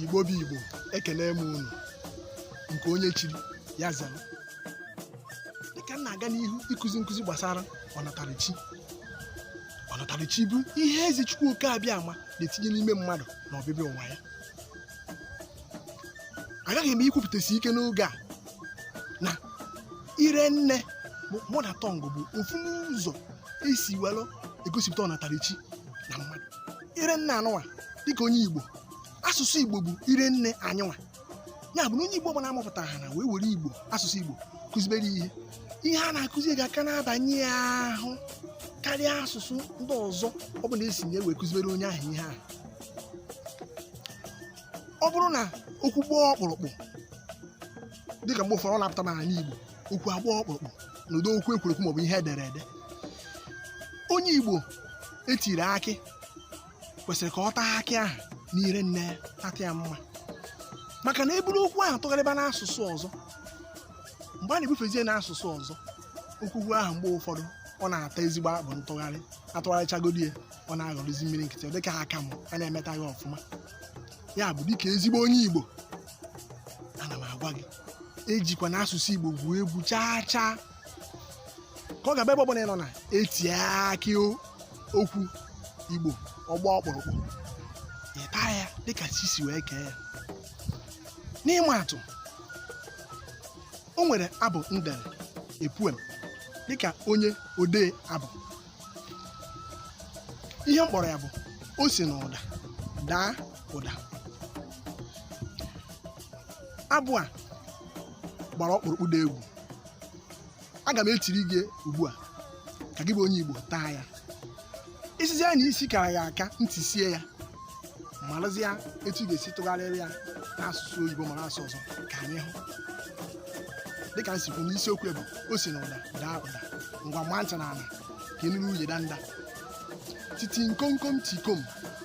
igbo bụ igbo ekene m unu nke onye chiri ya zara dịka m na-aga n'ihu ịkụzi nkụzi gbasara ọnatarachi ọnatarachi bụ ihe eze chukwu oke abịama na-etinye n'ime mmadụ na ọbịbịa ụwa ya agaghị m ikwupụtasi ike n'oge a na ire nne mother tongue bụ ofu n'ụzọ esi were egosipụta ọnatarachi na mmadụ ire nne anyịnwa dịka onye igbo asụsụ igbo bụ ire nne anyịnwa ya bụ na onye igbo ọbụla amụpụtara ha na wee were igbo asụsụ igbo kụzibere ihe ihe a na-akụzi ga-aka na-abanye ya ahụ karịa asụsụ ndị ọzọ ọbụla esi na ya wee kụzibere onye ahụ ihe ahụ ọ bụrụ na okwu gbaa ọkpụrụkpụ dịka mgbe ụfọdụ ọ na-apụta n'ala igbo okwu agbaa ọkpụrụkpụ na ụdị okwu ekwuru ekwu maọbụ ihe edere ede onye igbo etiri akị kwesịrị ka ọ taa akị ahụ n'ire nne ya tata ya mma maka na eburu okwu ahụ tụgharịba n'asụsụ ọzọ mgbe a na-ebufezie n'asụsụ ọzọ okwukwu ahụ mgbe ụfọdụ ọ na-ata ezigbo akpụ ntụgharị atụgharịchagodi ya ọ na-aghọrọzi mmiri nkịtị ọ dịka aka m a na-emeta ya ọfụma ya bụ dịka ezigbo onye igbo ana m agwa gị ejikwana asụsụ igbo gwuo egwu chaa chaa ka ọ ga-abụ ebe ọbụla ị nọ na etie akị o- okwu igbo ọ gbaa ọkpụrụkpụ ị taa ya dịka chi si wee kee ya n'ịma atụ o nwere abụ m dere a poem dịka onye odee abụ ihe m kpọrọ ya bụ o si n'ụda daa ụda abụ a gbara ọkpụrụkpụ dị egwu aga m etiri gị ugbu a ka gị bụ onye igbo taa ya isizi ya na isi kara ya aka m tisie ya marazia etu ị ga-esi tụgharịrị ya n'asụsụ oyibo ma n'asụsụ ọzọ ka anyị hụ dịka m si kwuo na isiokwu bụ o si na ụda daa ụda ngwa maa ntị na ala ka ị nụrụ uye danda titi nkomkom tikom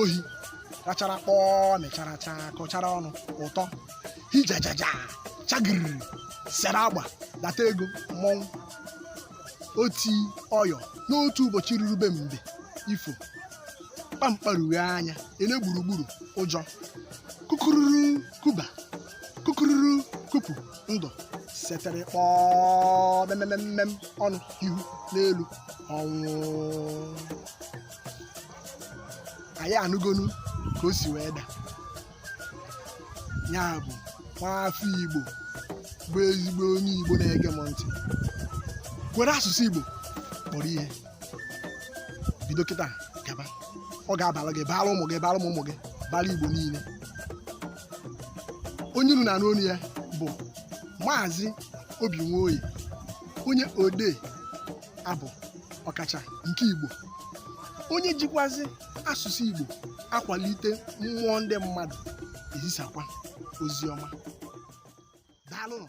ohi rachara kpọọ mechara chaa kọchara ọnụ ụtọ hijajaja chagiriri sere agba data ego mmọnwụ oti ọyọ n'otu ụbọchị ruru be mbe ifo kpamkparughe anya ele gburugburu ụjọ kukururu kuba kukururu kupu ndụ setere kpọọ memememem ọnụ ihu n'elu ọnwụ anyị anụgonu ka o si wee da ya bụ nwaafọ igbo bụ ezigbo onye igbo na-ege m ntị were asụsụ igbo kpọrọ ihe bido kịta gaba ọ ga-abara gị baara ụmụ gị baara ụmụ ụmụ gị baara igbo niile onye unu na-anụ onu ya bụ maazị obi nwoye onye odee abụ ọkacha nke igbo onye jikwazi asụsụ igbo akwalite mmụọ ndị mmadụ ezisakwa ozi ọma daalụnụ